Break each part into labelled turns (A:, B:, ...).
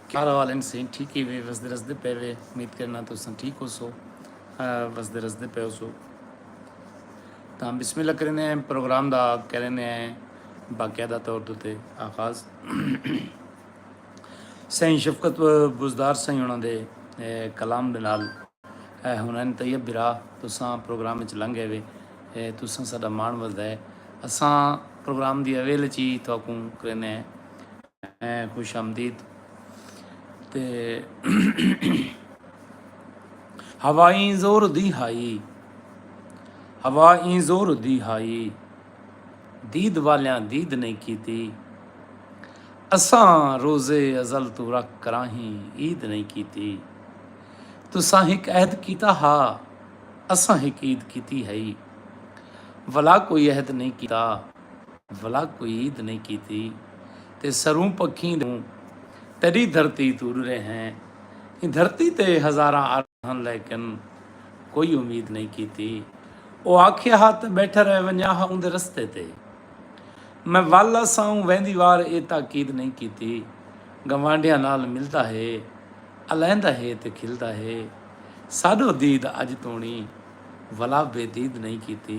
A: کیا حال ہیں سین ٹھیک ہی وے وسدے رسدے پے وے امید کرنا تو سن ٹھیک ہو سو وسدے رسدے پے ہو سو تو ہم بسم اللہ کرنے ہیں پروگرام دا کرنے ہیں باقاعدہ طور تے آغاز سین شفقت بزدار سین ہونا دے کلام دے نال ہنن طیب برا تو سان پروگرام وچ لنگ گئے وے تو سان ساڈا مان وسدا ہے اساں پروگرام دی اویل چی تو کرنے ہیں ہیں خوش آمدید تے ہوا این زور دی ہائی ہوا این زور دی ہائی دید والیاں دید نہیں کیتی اساں روزے ازل تو رکھ کراہیں عید نہیں کیتی تساں ہک عہد کیتا ہا اساں ہک عید کیتی ہئی ولا کوئی عہد نہیں کیتا بھلا کوئی عید نئیں کیتی تے سروں پکھیں دے اوں تیڈی دھرتی توں اڈرے ہیں ایں دھرتی تے ہزاراں عرب ہن لیکن کوئی امید نئیں کیتی او آکھیا ہا تے بیٹھا رہ ونجا ہا اوندے رستے تے میں ول اساوں ویندی وار اے تاکید نئیں کیتی گوانڈھیاں نال ملدا ہے الہندا ہے تے کھلدا ہے ساڈو دید اج تونڑی ولا بے دید نئیں کیتی۔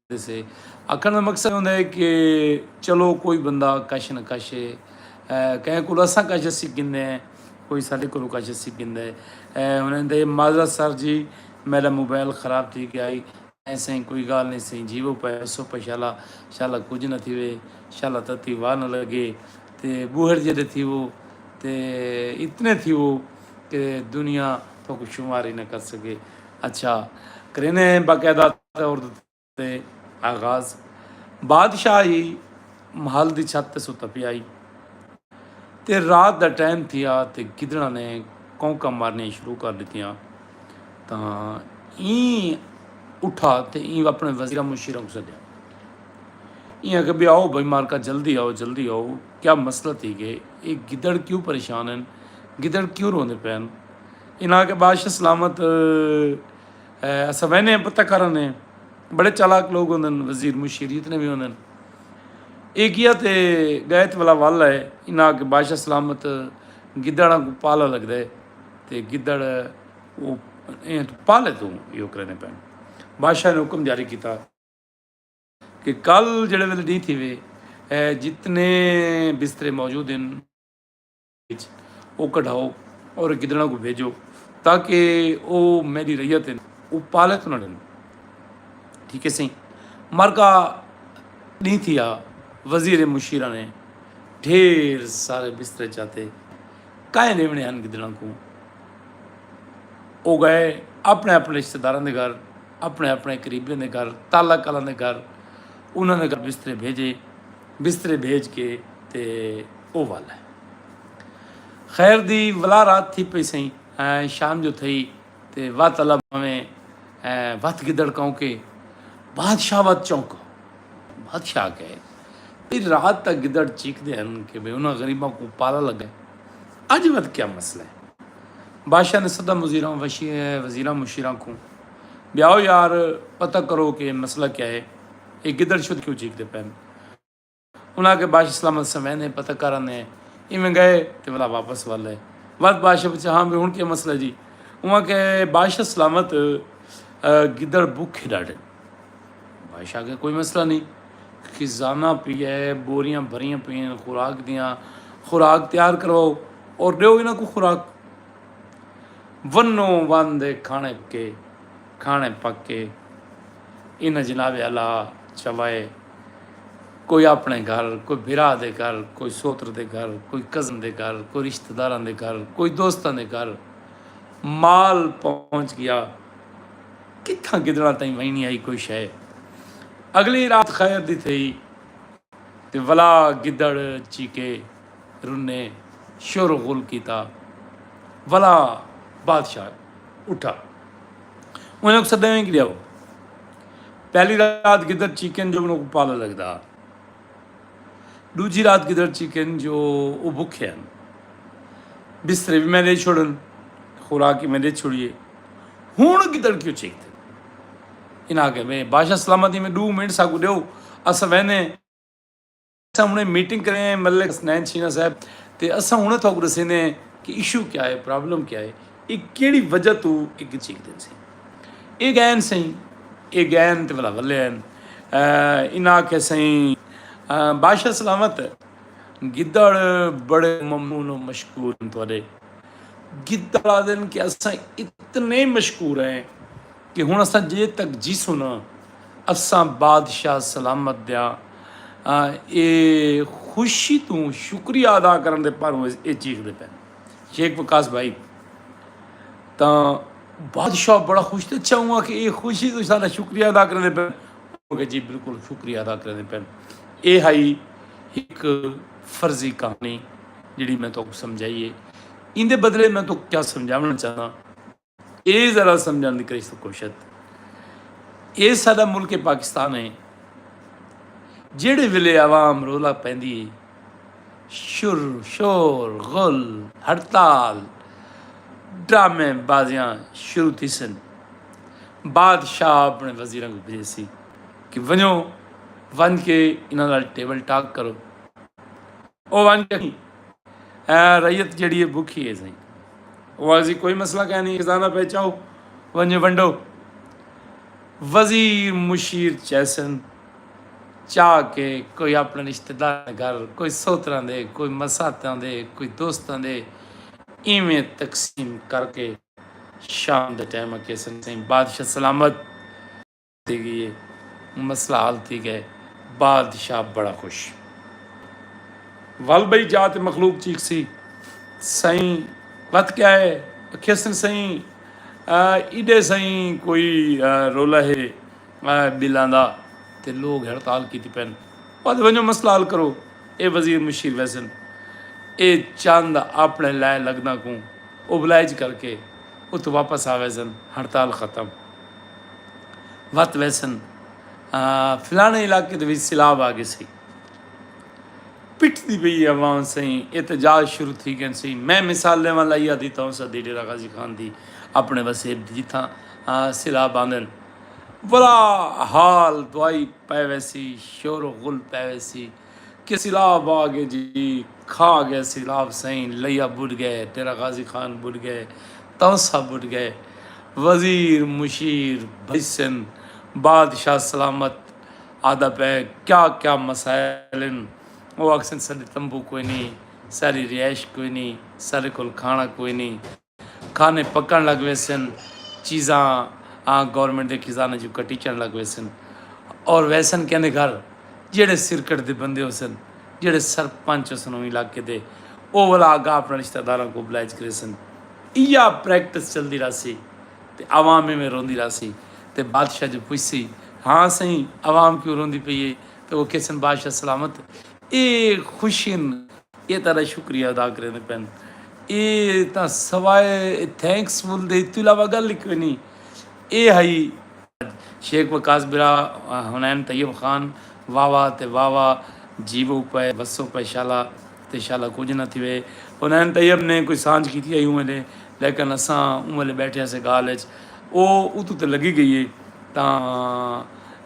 A: دیسے۔ آکھنڑ دا مقصد ہوندا ہے کہ چلو کوئی بندہ کش نہ کش ہے کہیں کولو اساں کش اسی گھندے ہیں کوئی ساڈے کولو کش اسی گھندا ہے ہن ایندا یہ معذرت سر جی میڈا موبائل خراب تھی گیا ہئی ایں سئیں کوئی گالھ نئیں سئیں جی وہ پے اسو پے شالا شالا کجھ نہ تھیوے شالا تتی واہ نہ لگے تے بوہڑ جیڈے تھیوو تے اتنے تھیوو کہ دنیا تھوکو شمار ہی نہ کر سکے اچھا کرینے باقاعدہ عورت تے آغاز بادشاہ ہی محل دی چھت تے ستا پیا ہی تے رات دا ٹائم تھیا تے گدڑاں نے کونکاں مارنیاں شروع کر ڈتیاں تاں این اٹھا تے این اپنے وزیراں مشیراں کو سدیا این آکھیا بے آؤ بھائی مارکا جلدی آؤ جلدی آؤ کیا مسئلہ تھی گئے اے گدڑ کیوں پریشان ہیں گدڑ کیوں روندے پین انہاں کے بادشاہ سلامت اساں ویندے ہیں پتہ کر آندے ہیں بڑے چالاک لوگ ہوندے ہیں وزیر مشیر جتنے بھی ہوندے ہیں ایک یہ تے گائت والا والا ہے انہاں کے بادشاہ سلامت گدڑاں کو پالا لگ دے تے گدڑ وہ ایں تو پالے تو یہ کرنے پہن بادشاہ نے حکم جاری کیتا کہ کل جڑے ویلے ڈی تھی وے جتنے بسترے موجود ہیں اچ او کڈھاؤ اور گدڑاں کوں بھیجو تاکہ او میڈی ریت ہن او پالے تو نہ ڈن ٹھیک ہے سہی مرکا ڈی تھیا وزیر مشیرہ نے ڈھیر سارے بسترے چاتے کائے نیونے ہن گدڑاں کوں او گئے اپنے اپنے رشتہ داراں دے گھر اپنے اپنے قریبیاں دے گھر تالا کالاں دے گھر انہاں نے گھر بسترے بھیجے بسترے بھیج کے تے او ول ہے۔ خیر دی ولا رات تھی پئی سئیں۔ شام جو تھئی تے وت الا بھانویں وت گدڑ کونکے بادشاہ وت چونکو۔ بادشاہ آکھے بھئی رات تاں گدڑ چیکدے ہن کہ بھئی انہاں غریباں کوں پالا لگے اج وت کیا مسئلہ ہے۔ بادشاہ نے سدا مزیراں وزیراں مشیراں کوں بھئی آؤ یار پتہ کرو کہ مسئلہ کیا ہے۔ اے گدڑ شدھ کیوں چیکدے پئن۔ انہاں آکھیا باش سلامت سویں نے پتہ کر آنے ہیں ایویں گئے تے ولا واپس والے وقت بادشاہ پوچھا ہاں بھی ہن کیا مسئلہ جی انہاں آکھیا باش سلامت گدڑ بھوکے ڈاڈھے بادشاہ آکھیا کوئی مسئلہ نہیں خزانہ پیا ہے بوریاں بھریاں پئیں خوراک دیاں خوراک تیار کرواؤ اور ڈیو انہاں کو خوراک ونو وان دے کھانے پکے کھاݨے پک کے انہاں جناب اعلی چوائے کوئی اپنے گھر کوئی بھرا دے گھر کوئی سوتر دے گھر کوئی کزن دے گھر کوئی رشتہ داراں دے گھر کوئی دوستاں دے گھر مال پہنچ گیا کتھاں گدڑاں تائیں وینی آئی کوئی شے اگلی رات خیر دی تھئی تے ولا گدڑ چیکے رنے شور و غل کیتا ولا بادشاہ اٹھا انہاں کوں سدے ویں گریاو پہلی رات گدڑ چیکن جو انہاں کوں پالا لگدا دوجی رات گدڑ چیکن جو او بھکھے ہن بسترے بھی میں دے چھوڑن خوراک میں دے چھوڑیے ہن گدڑ کیوں چیکتے انہاں کہ میں بادشاہ سلامتی میں دو منٹ سا کو دیو اس وینے اساں ہنڑے میٹنگ کرے ہیں ملک حسنین شینا صاحب تے اساں ہنڑے تھوک ڈسیندے ہیں کہ ایشو کیا ہے پرابلم کیا ہے اے کیڑی وجہ تو اے گچ چیک دین سیں اے گین سیں اے گین تے ولا ولے ہیں انہاں آکھے سیں بادشاہ سلامت گدڑ بڑے ممنون و مشکور ہیں تھوڑے گدڑ آدن کہ اساں اتنے مشکور ہیں کہ ہݨ اساں جے تک جیسوں نا اساں بادشاہ سلامت دا اے خوشی توں شکریہ ادا کرݨ دے پاروں اے چیخدے پئن۔ شیخ وقاص بھائی تاں بادشاہ بڑا خوش تھیا اچھا اوں آکھیا اے خوشی توں ساݙا شکریہ ادا کریندے پئن؟ اوں آکھیا جی بالکل شکریہ ادا کریندے پئن۔ اے ہئی ہک فرضی کہاݨی جیڑھی میں تہاکوں سمجھائی اے۔ ایندے بدلے میں تہاکوں کیا سمجھاوݨا چاہنداں۔ اے ذرا سمجھن دی کرے سو کوشت اے ساڈا ملک پاکستان ہے جیڑے ویلے عوام رولا پیندی ہے شر شور غل ہڑتال ڈرامے بازیاں شروع تھی سن بادشاہ اپنے وزیراں کو بھیج سی کہ ونجو ون کے انہاں نال ٹیبل ٹاک کرو او ونج اکھیں اے رعیت جیڑی اے بکھی اے سئیں۔ او آکھسی کوئی مسئلہ کائنی خزانہ پئے چاؤ ونجے ونڈو۔ وزیر مشیر چیسن چا کے کوئی اپنے رشتہ داراں دے گھر کوئی سوتراں دے کوئی مساتاں دے کوئی دوستاں دے ایویں تقسیم کر کے شام دے ٹائم اکھیسن سئیں بادشاہ سلامت۔ تھی گئی ہے مسئلہ حل تھی گئے بادشاہ بڑا خوش ول بھئی جا تے مخلوق چیک سی سائیں وت کیا ہے کھیسن سائیں ایڈے سائیں کوئی رولا ہے بلاں دا تے لوگ ہڑتال کیتی پین پد ونجو مسئلہ حل کرو اے وزیر مشیر ویسن اے چاند اپنے لائے لگنا کوں اوبلائج کر کے ات واپس آویزن ہڑتال ختم وت ویسن فلانے علاقے دے وچ سیلاب آ گئے سی پٹ دی پئی عوام سائیں احتجاج شروع تھی گئے سی میں مثال لے والا یا دیتا ہوں سدی ڈیرا غازی خان دی اپنے وسیب دی جتھاں سیلاب آندن بڑا حال دوائی پے ویسی شور و غل پے ویسی کہ سیلاب آ گئے جی کھا گئے سیلاب سئیں لیا بڈ گئے تیرا غازی خان بڈ گئے تونسا بڈ گئے وزیر مشیر بھئیسن بادشاہ سلامت آدا پئے کیا کیا مسائل ہن او آکھسن ساڈے تمبو کوئی نی ساڈی رہائش کوئی نی ساڈے کول کھانا کوئی نی کھانے پکݨ لڳ ویسن، چیزاں آں گورنمنٹ دے خزانے جو کٹیچݨ لڳ ویسن اور ویسن کیندے گھر جیڑھے سرکٹ دے بندے ہوسن، جیڑھے سرپنچ ہوسن اوں علاقے دے او ولا آگا اپݨے رشتہ داراں کوں بلائج کریسن۔ ایہا پریکٹس چلدی رہسی تے عوام ایویں روندی رہسی تے بادشاہ جو پچھسی ہاں سئیں عوام کیوں روندی پئی اے تے او کھیسن بادشاہ سلامت اے خوشین اے تہاݙا شکریہ ادا کریندے پن۔ اے تاں سوائے تھینکس فل دے اتو علاوہ گل ای کوئی نی اے ہئی۔ اج شیخ وقاص برا حنین طیب خان واوا تے واوا جیوو پئے وسو پئے شالا تے شالا کجھ نہ تھیوے حنین طیب نے کوئی سانجھ کیتی ہئی اوں ویلے لیکن اساں اوں ویلے بیٹھے ہسے گالھ اچ او اتو تے لگی گئی اے تاں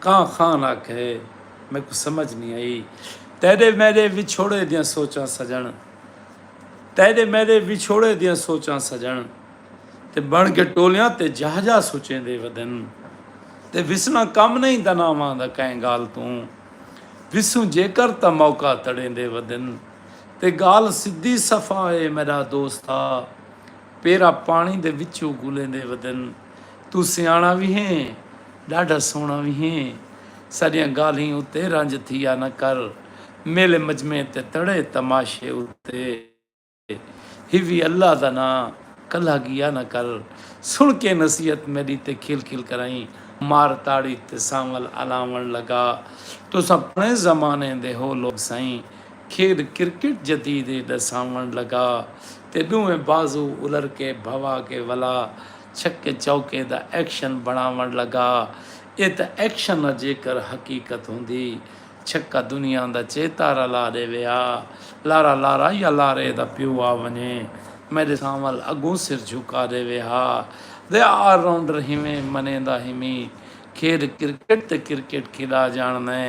A: کاں خان آکھے میکوں سمجھ نی آئی تیڈے میڈے وچھوڑے دیاں سوچاں سجݨ تیڈے میڈے وچھوڑے دیاں سوچاں سجݨ تے بݨ کے ٹولیاں تے جاہ جاہ سچیندے ودن تے وسݨاں کم نئیں دناواں دا کئیں گالھ توں وسوں جیکر تاں موقع تڑیندے ودن تے گالھ سدھی صفا اے میڈا دوستا پیرا پاݨی دے وچوں گولیندے ودن۔ توں سیاݨا وی ہیں ݙاڈھا سوہݨا وی ہیں ساݙیاں ڳالھیں اتے رنج تھیا نہ کر میلے مجمعے تے تڑے تماشے اتے ہیوی اللہ دا ناں کلہا ڳیا نہ کر سݨ کے نصیحت میݙی تے کھل کھل کرائیں مار تاڑی تے سانول الاوݨ لڳا تساں پراݨے زمانے دے ہو لوک سئیں کھیݙ کرکٹ جدید اے ݙساوݨ لڳا تے ݙوہیں بازو الر کے بھوا کے ولا چھکے چوکے دا ایکشن بݨاوݨ لڳا اے تاں ایکشن نا جیکر حقیقت ہوندی چھکا دنیا دا چے تارا لا ݙیوے آ لارا لارا یا لارے دا پیو آ ونڄے میݙے سانول اڳوں سر جھکا ݙیوے ہا دے آ آل راؤنڈر ہیویں منیندا ہیمی کھیݙ کرکٹ تے کرکٹ کھیݙا ڄاݨدیں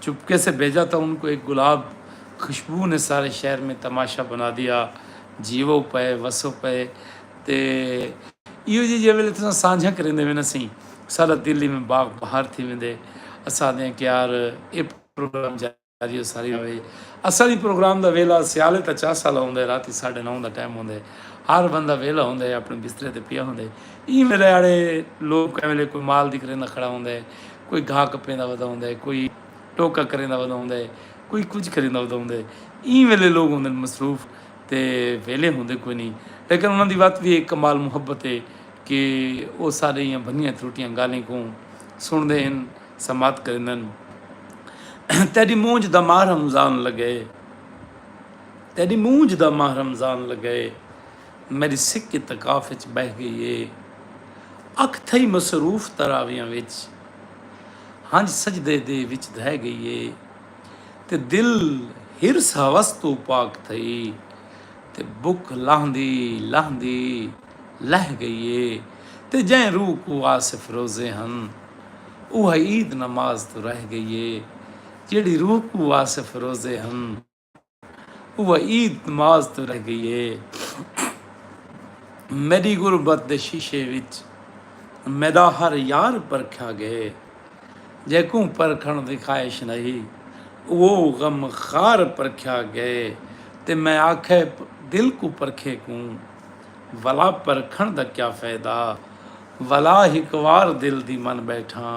A: چپکے سے بھیجا تھا ان کو ایک گلاب خوشبو نے سارے شہر میں تماشا بنا دیا جیو پئے وسو پئے تے ایو جی جے ویلے تساں سانجھا کریندے وینا سیں سارا دلی میں باغ بہار تھی ویندے اساں دیاں کیار اے پروگرام جاری ہو ساری ہوئے اساں دی پروگرام دا ویلا سیالے تا چا سالا ہوندے راتی ساڑھے نو دا ٹائم ہوندے ہر بندہ ویلا ہوندے اپنے بسترے تے پیا ہوندے ایں ویلے آڑے لوگ کہیں ویلے کوئی مال دی کریندہ کھڑا ہوندے کوئی گھا کپیندا ودا ہوندا ہے کوئی ٹوکا کریندا ودا ہوندا ہے کوئی کجھ کریندا ودا ہوندا ہے ایں ویلے لوگ ہوندے ہن مصروف تے ویلے ہوندے کوئی نہیں لیکن انہاں دی وت وی ایک کمال محبت ہے کہ او سارے ایاں بھنیاں تروٹیاں گالھیں کوں سنڑدے ہن سماعت کریندن تیڈی مونجھ دا ماہ رمضان لگئے تیڈی مونجھ دا ماہ رمضان لگئے۔ میݙی سک اعتکاف اچ ٻہہ ڳئی اے۔ اکھ تھئی مصروف تراویحاں وچ۔ ہنج سجدے دے وچ دھئے ڳئی اے۔ تے دل حرص ہوس توں پاک تھئی۔ تے بکھ لہندی لہندی لہہ ڳئی اے۔ تے جئیں روح کوں آصف روزے ہن۔ اوہا عید نماز توں رہ ڳئی اے۔ جیڑھی روح کوں آصف روزے ہن۔ اوہ عید نماز توں رہ گئی ہے میڈی غربت دے شیشے وچ میڈا ہر یار پرکھیا گئے جیکوں پرکھن دی خواہش نہیں اوہ غم خار پرکھیا گئے تے میں آکھے دل کو پرکھے کوں ولا پرکھن دا کیا فائدہ ولا ہک وار دل دی من بیٹھاں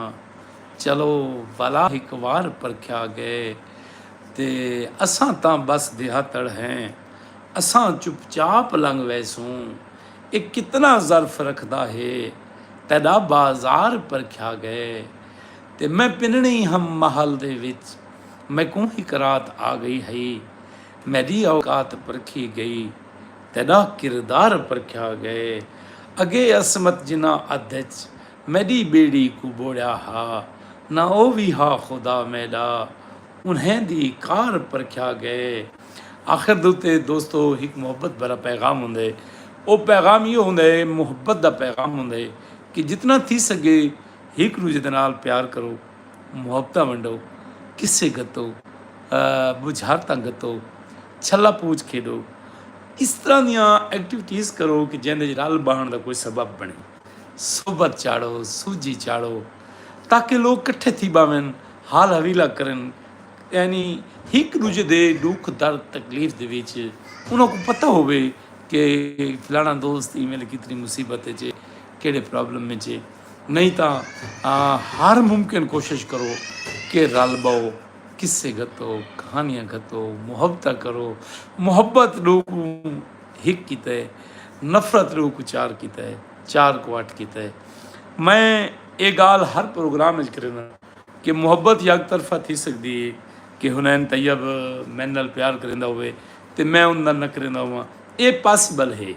A: چلو ولا ہک وار پرکھیا گئے تے اساں تاں بس دیہاتڑ ہیں۔ اساں چپ چاپ لنگھ ویسوں۔ اے کتنا ظرف رکھدا ہے۔ تیڈا بازار پرکھیا گئے۔ تے میں پنڑیں ہم محل دے وچ۔ میکوں ہک رات آ گئی ہئی۔ میڈی اوقات پرکھی گئی۔ تیڈا کردار پرکھیا گئے۔ اگے عصمت جناں ادھ اچ۔ میݙی ٻیڑی کوں ٻوڑیا ہا نہ او وی ہا خدا میݙا انہیں دی کار پرکھیا ڳئے آخر دے اتے دوستو ہک محبت بھرا پیغام ہوندے او پیغام ایہو ہوندے محبت دا پیغام ہوندے کہ جتنا تھی سڳے ہک ݙوجھے دے نال پیار کرو محبتاں ونڈو قصے گھتو ٻجھارتاں گھتو چھلا پوچ کھیݙو اس طرح دیاں ایکٹیوٹیز کرو کہ جیندے وچ رل ٻہݨ دا کوئی سبب بݨے۔ صحبت چاڑھو، سوجھی چاڑھو تاکہ لوک کٹھے تھی باون، حال حویلہ کرن یعنی ہک ڈوجھے دے ڈکھ درد تکلیف دے وچ انہاں کوں پتہ ہووے کہ فلانا دوست ایں ویلے کتنی مصیبت وچ ہے کیڑے پرابلم وچ ہے نہیں تاں ہر ممکن کوشش کرو کہ رل باؤ قصے گھتو کہانیاں گھتو محبتہ کرو محبت ڈو کوں ہک کیتے نفرت روح کوں چار کیتے چار کوں اٹھ کیتے میں اے گالھ ہر پروگرام وچ کرینداں کہ محبت یک طرفہ تھی سکدی اے کہ حنین طیب میڈے نال پیار کریندا ہووے تے میں اوندے نال نہ کریندا ہوواں اے پاسیبل ہے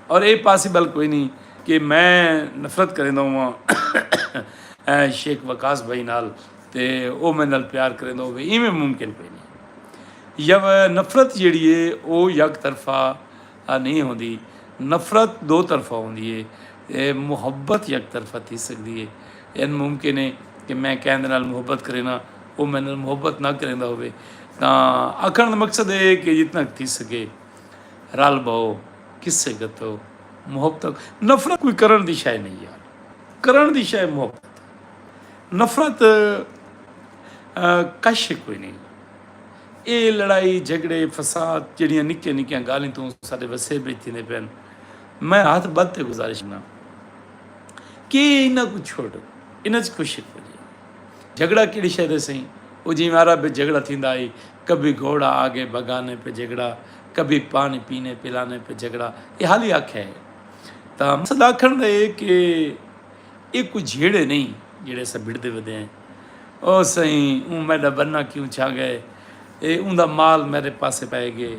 A: اور اے پاسیبل کوئی نی کہ میں نفرت کریندا ہوواں شیخ وقاص بھائی نال تے او میڈے نال پیار کریندا ہووے ایویں ممکن کوئی نی۔ یو نفرت جیڑھی ہے او یک طرفہ نہیں ہوندی نفرت دو طرفہ ہوندی ہے اے محبت یک طرفہ تھی سکدی ہے این ممکن ہے کہ میں کہن دے نال محبت کرینا او میں نال محبت نہ کریندا ہوے تاں آکھن دا مقصد ہے کہ جتنا تھی سکے رل بہو کسے گتو محبت نفرت کوئی کرن دی شے نہیں یار کرن دی شے محبت نفرت کش ہک کوئی نہیں اے لڑائی جھگڑے فساد جڑیاں نکیاں نکیاں گالیں توں سارے وسے بیچ تھی پین میں ہاتھ بد تے گزارش نہ کہ انہاں کو چھوڑ انہاں چ کچھ ہک کوئی جھگڑا کیڑی شے دے سہی او جی مارا بے جھگڑا تھیندا اے کبھی گھوڑا آگے بھگانے پہ جھگڑا کبھی پانی پینے پلانے پہ جھگڑا اے حالی آکھے ہے تا مقصد آکھن دے کہ اے کوئی جھیڑے نئیں جیڑھے اساں بھڑدے ودے ہیں۔ او سئیں! اوں میڈا بننا کیوں چھا گئے اے اوندا مال میڈے پاسے پئے گئے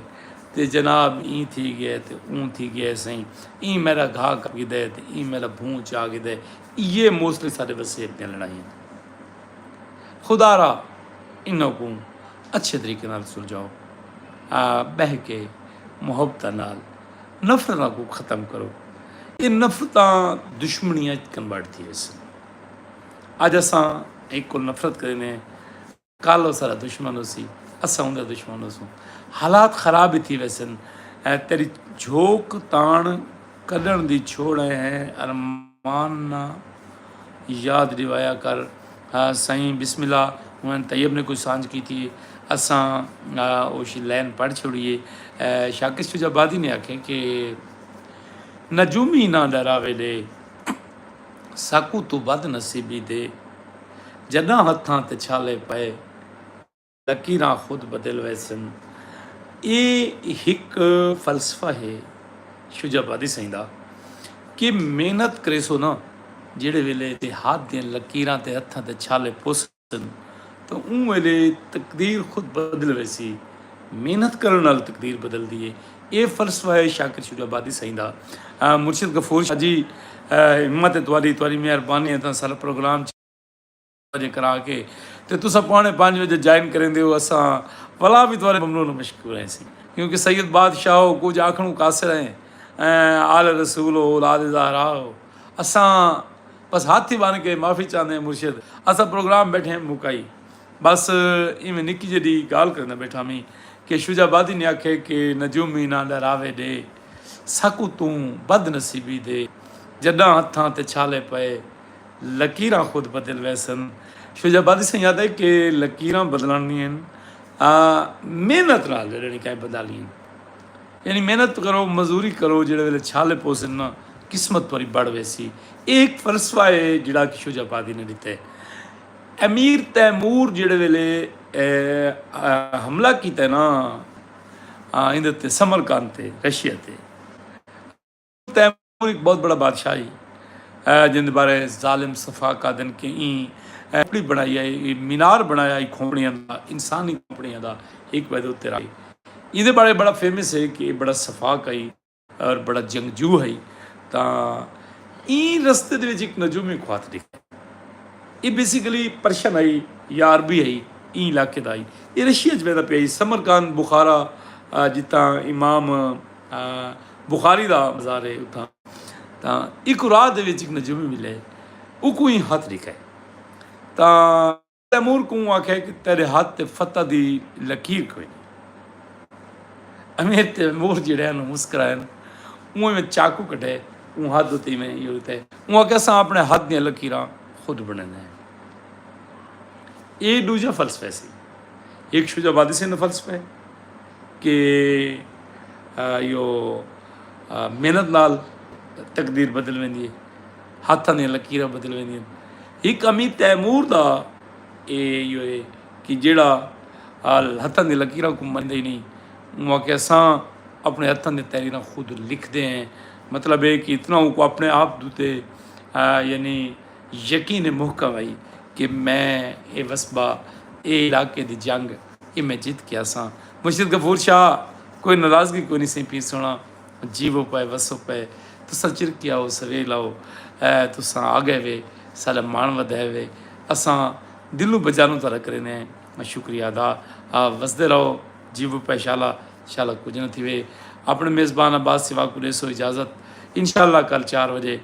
A: تے جناب ایں تھی گئے تے اوں تھی گئے اے سئیں ایں میڈا گھا کر گھدے تے ایں میڈا بھوں چا گھدے ایہے موسٹلی ساڈے وسیب دیاں لڑائیاں ہن۔ خدارا انہاں کوں اچھے طریقے نال سلجھاؤ۔ آ بہہ کے محبتاں نال۔ نفرتاں کوں ختم کرو۔ ایہ نفرتاں دشمنیاں اچ کنورٹ تھی ویسن۔ اج اساں ہک کوں نفرت کریندے ہیں کل او ساڈا دشمن ہوسی اساں اوندا دشمن ہوسوں۔ حالات خراب ہی تھی ویسن۔ تیڈی جھوک تان کڈھن دی چھوڑ ہیں ارمان۔ مان نہ یاد ڈیوایا کر ہا سائیں بسم اللہ ہن طیب نے کوئی سانجھ کیتی ہے اساں اوشی لین پڑھ چھوڑی ہے شاکس چوجا بادی نے آکھے کہ نجومی نہ ڈراوے لے ساکو تو بد نصیبی دے جڈاں ہتھاں تے چھالے پئے لکیراں خود بدل ویسن۔ اے ہک فلسفہ ہے شجاع آبادی سئیں دا کہ محنت کریسو ناں جیڑھے ویلے تے ہاتھ دیاں لکیراں تے ہتھاں تے چھالے پوسن تاں اوں ویلے تقدیر خود بدل ویسی۔ محنت کرݨ نال تقدیر بدلدی ہے۔ اے فلسفہ ہے شاکر شجاع آبادی سئیں دا۔ مرشد غفور شاہ جی ہمت تہاݙی تہاݙی مہربانی ہے تاں سارا پروگرام چ۔ بجے کرا کے تے تساں پونے پنج بجے جوائن کریندے ہو اساں ولا بھی تہاڈے ممنون و مشکور ہیسی کیونکہ سید بادشاہ ہو کچھ آکھنوں قاصر ہیں آل رسول ہو اولاد زہرا ہو اساں بس ہاتھ ہی بن کے معافی چاہندے ہیں مرشد اساں پروگرام بیٹھے ہیں مکائی بس ایویں نکی جی ڈی گال کرنا بیٹھا میں کہ شجا بادی نے آکھے کہ نجومی نہ ڈراوے ڈے سکو توں بد نصیبی دے جڈاں ہتھاں تے چھالے پئے لکیراں خود بدل ویسن۔ شجاع آبادی سئیں آہدا ہے کہ لکیراں بدلݨی ہن آ محنت نال جیڑھے نکائے بدالی ہن۔ یعنی محنت کرو مزوری کرو جیڑھے ویلے چھالے پوسن نا قسمت تہاݙی بڑھ ویسی۔ اے ہک فلسفہ ہے جیڑھا کہ شجاع آبادی نے ݙتے۔ امیر تیمور جیڑھے ویلے حملہ کیتے نا ایندے تے سمرقند تے رشیا تے۔ تیمور ہک بہت بڑا بادشاہ ہئی جیندے بارے ظالم صفاک آہدن کہ ایں کھوپڑی بنڑائی ہئی اے مینار بنڑایا ہئی کھوپڑیاں دا انسانی کھوپڑیاں دا ہک وحدہ اتے رکھ ہئی ایندے بارے بڑا فیمس ہئی کہ اے بڑا صفاک ہئی اور بڑا جنگجو ہئی تاں ایں رستے دے وچ ہک نجوم ہک خات ڈیکھیا اے بیسیکلی پرشن ہئی یا عربی ہئی ایں علاقے دا ہئی اے رشیا وچ ویندا پیا ہئی سمرقند بخارا جتاں امام بخاری دا مزار ہے اتھاں تاں ایکوں راہ دے وچ ایک نجومی ملے اوکوں ایں ہتھ ڈیکھے تاں تیمور کوں آکھے کہ تیرے ہتھ تے فتح دی لکیر کوئی نیں امیر تیمور جیڑھے ہن مسکرائے ہن اوں ایویں چاقو کڈھے اوں ہتھ اتے ایویں یوں تے اوں آکھے اساں اپنے ہتھ دیاں لکیراں خود بنڑیندے ہیں ایہ ڈوجھا فلسفہ سی ہک شجاع بادی سندھ دا فلسفہ ہے۔ کہ ایہو محنت نال تقدیر بدل ویندی ہے ہتھاں دیاں لکیراں بدل ویندی ہن ہک امیر تیمور دا ایہو ہے کہ جیڑا ہتھاں دی لکیراں کو مندا ہی نہیں اوں آکھیا اساں اپنے ہتھاں دی تحریراں خود لکھ دے ہیں مطلب ہے کہ اتنا اوں کو اپنے آپ دوتے یعنی یقین محکم ہئی کہ میں اے وسبا اے علاقے دی جنگ اے میں جت کے آساں۔ مرشد غفور شاہ، کوئی ناراضگی کونی سئیں پیر سوہݨا، جیوو پئے وسو پئے، تساں چرکے آؤ سویل آؤ، تساں آڳئے وے، ساݙا ماݨ ودھئے وے، اساں دلوں بجانوں تہاݙا کریندے ہیں شکریہ ادا، وسدے رہو، جیوو پئے شالا، شالا کجھ نہ تھیوے، آپݨے میزبان عباس سیوھا کوں ݙیسو اجازت، انشاءاللہ کل چار وڄے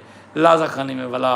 A: لازہ خانی میں ولا۔